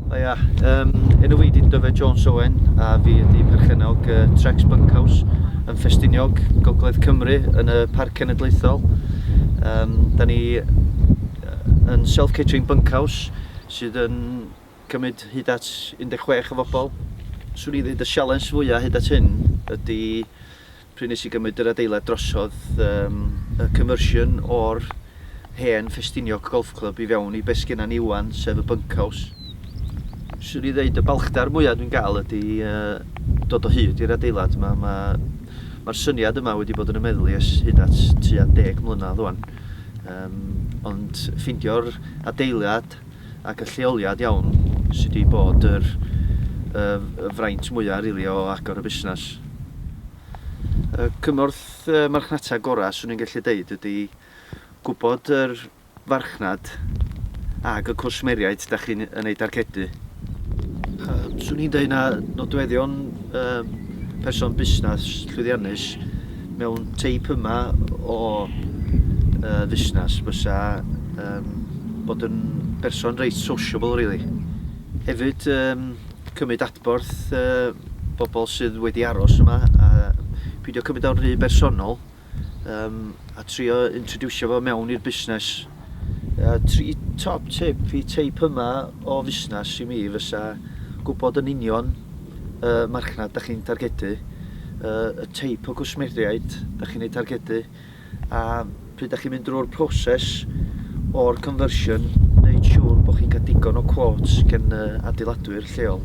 O ia, um, enw fi di Dyfed Jones Owen a fi ydi perchennog uh, Trex Bunkhouse yn Ffestiniog, Gogledd Cymru, yn y Parc Cenedlaethol. Um, da ni yn self-catering bunkhouse sydd yn cymryd hyd at 16 o bobl. Swn i ddweud y sialens fwyaf hyd at hyn ydy pryd nes i gymryd yr adeilad drosodd yym y conversion o'r hen Ffestiniog Golf Club i fewn i be' sgenna ni ŵan sef y bunkhouse. Swn i ddeud y balchder mwya dwi'n ga'l ydi yy dod o hyd i'r adeilad 'ma ma' ma'r syniad yma wedi bod yn 'y meddwl i ers hyd at tua deg mlynadd ŵan yym ond ffeindio'r adeilad ac y lleoliad iawn sy' 'di bod yr y fraint mwya' rili o agor y busnes. Y cymorth marchnata gora' swn i'n gallu deud ydi gwbod yr farchnad ag y cwsmeriaid 'da chi'n yn eu dargedu. Swn i'n deud na nodweddion person busnes llwyddiannus Mewn teip yma o yy fusnes fysa yym bod yn berson reit sociable rili. Hefyd yym cymyd adborth yy bobl sydd wedi aros yma a pidio cymyd o'n rhy bersonol yym a trio introducio fo mewn i'r busnes. Yy tri top tip fi teip yma o fusnes i mi fysa gwybod yn union y uh, marchnad da chi'n targedu, uh, y teip o gwsmeriaid da chi'n ei targedu a pryd da chi'n mynd drwy'r proses o'r conversion neu siŵr bod chi'n cael digon o quotes gen uh, adeiladwyr lleol.